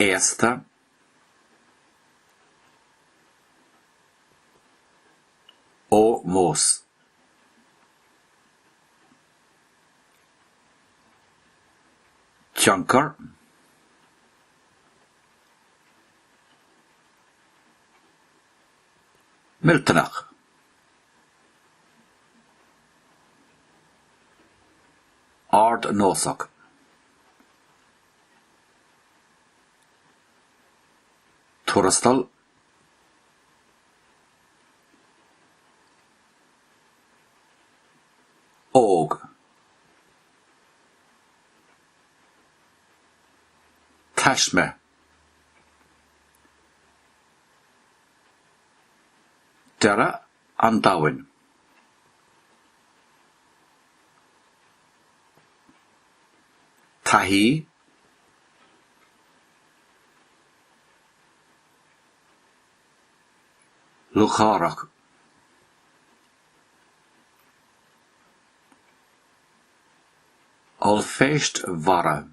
aosta, ómós. tionchar, millteanach. Ard Nósach. Tuarastal. Óg. Taisme. Dearadh. an domhain. Taithí Lúcháireach Ollphéist Mhara.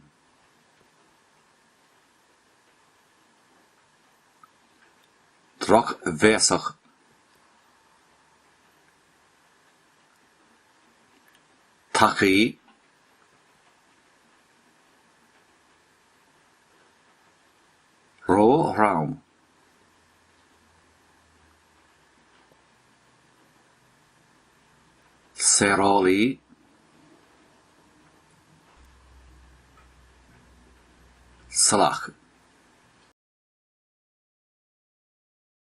drochbhéasach tacaí ró-throm. saorálaí salach.